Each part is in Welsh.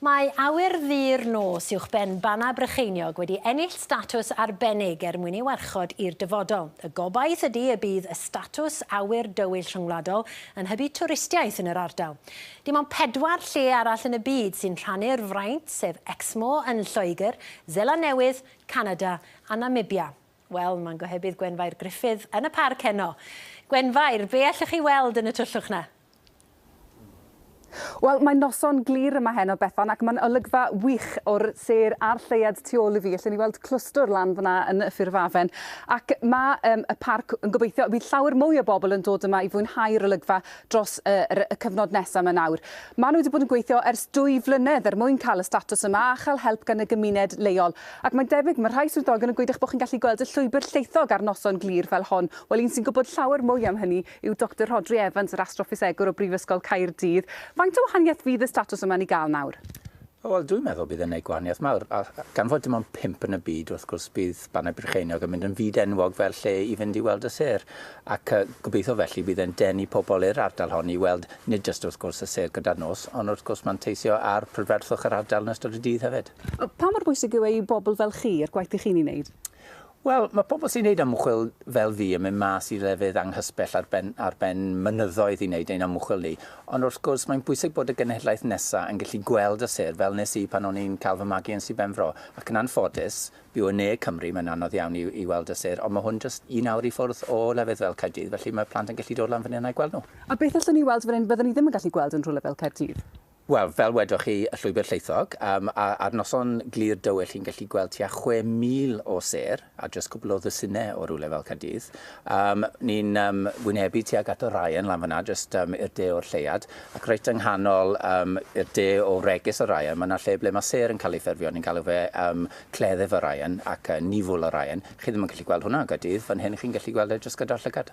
Mae awyr ddu'r nos uwchben Bannau Brycheiniog wedi ennill statws arbennig er mwyn ei warchod i'r dyfodol. Y gobaith ydi y bydd y statws awyr dywyll rhyngwladol yn hybu twristiaeth yn yr ardal. Dim ond pedwar lle arall yn y byd sy'n rhannu'r fraint, sef Exmoor yn Lloegr, Seland Newydd, Canada a Namibia. Wel, mae'n gohebydd Gwenfair Gruffydd yn y parc heno. Gwenfair, be allwch chi weld yn y tyllwch 'na? Wel, mae'n noson glir yma heno, Bethan, ac mae'n olygfa wych o'r sêr a'r lleuad tu ôl i fi. Allen ni weld clwstwr lan fan'na yn y ffurf afen. Ac mae um, y parc yn gobeithio, bydd llawer mwy o bobl yn dod yma i fwynhau'r olygfa dros y, y cyfnod nesaf yma nawr. Maen nhw wedi bod yn gweithio ers dwy flynedd er mwyn cael y statws yma a chael help gan y gymuned leol. Ac mae'n debyg, mae rhai swyddogion yn gweud eich bod chi'n gallu gweld y llwybr llaethog ar noson glir fel hon. Wel, un sy'n gwybod llawer mwy am hynny yw Doctor Rhodri Evans, yr astroffisegwr o Brifysgol Caerdydd. Faint o wahaniaeth fydd y statws yma'n ei gael nawr? O, wel, dwi'n meddwl bydd e'n gwneud gwahaniaeth mawr. A gan fod dim ond pump yn y byd, wrth gwrs, bydd Bannau Brycheiniog yn mynd yn fyd enwog fel lle i fynd i weld y sêr. Ac gobeithio felly bydd e'n denu pobl i'r ardal hon i weld nid jyst, wrth gwrs, y sêr gyda'r nos, ond wrth gwrs manteisio ar prydferthwch yr ardal yn ystod y dydd hefyd. Pa mor bwysig yw e i bobl fel chi, i'r gwaith dych chi'n ei wneud? Wel, mae pobl sy'n gwneud ymchwil fel fi yn mynd mas i lefydd anghysbell ar ben, ar ben mynyddoedd i wneud ein ymchwil ni. Ond wrth gwrs, mae'n bwysig bod y genhedlaeth nesaf yn gallu gweld y sêr, fel nes i pan o'n i'n cael fy magu yn Sir Benfro. Ac yn anffodus, byw yn ne Cymru, mae'n anodd iawn i, i weld y sêr, ond mae hwn jyst un awr i ffwrdd o lefydd fel Caerdydd, felly mae plant yn gallu dod lan fan hyn a'i gweld nhw. A beth allwn ni weld fan hyn fyddwn ni ddim yn gallu gweld yn rhywle fel Caerdydd? Wel, fel wedoch chi, y Llwybr Llaethog, yym, a ar noson glir dywyll chi'n gallu gweld tua 6,000 o sêr, a jyst cwpl o ddwsinau o rywle fel Caerdydd. Yym, ni'n yym wynebu tuag at y Ryan lan fan'na, jyst yym i'r de o'r lleuad, ac reit yng nghanol yym i'r de o wregys y Ryan, ma' 'na lle ble ma' sêr yn cael ei ffurfio, ni'n galw fe yym cleddyf y Ryan ac yy niwfwl y Ryan. Chi ddim yn gallu gweld hwnna yn Gaerdydd, fan hyn chi'n gallu gweld e jyst gyda'r llygad.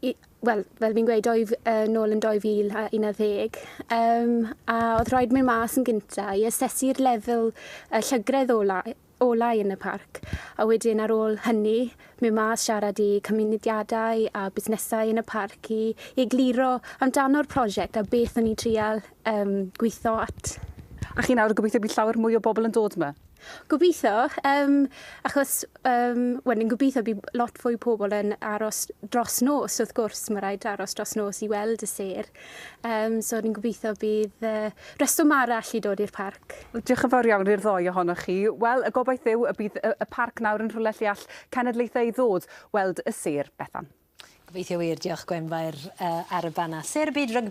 i, wel, fel fi'n gweud, oedd uh, nôl yn 2011, um, a oedd rhaid mynd mas yn gynta i asesu'r lefel uh, llygredd olau, olau yn y parc. A wedyn ar ôl hynny, mynd mas siarad i cymunediadau a busnesau yn y parc i, i egluro amdano'r prosiect a beth o'n i'n trial um, gweithio at. A chi nawr yn gobeithio bydd llawer mwy o bobl yn dod yma? Gobeithio, um, achos um, well, ni'n gobeithio bydd lot fwy pobl yn aros dros nos, wrth gwrs, mae rhaid aros dros nos i weld y ser. Um, so ni'n gobeithio bydd uh, reswm arall i dod i'r parc. Diolch yn fawr iawn i'r ddoi ohonoch chi. Wel, y gobaith yw y bydd y, y parc nawr yn rhywle lle all cenedlaethau ddod weld y ser, Bethan. Gobeithio wir, diolch Gwenfair uh, ar y banna. Ser y byd rygbi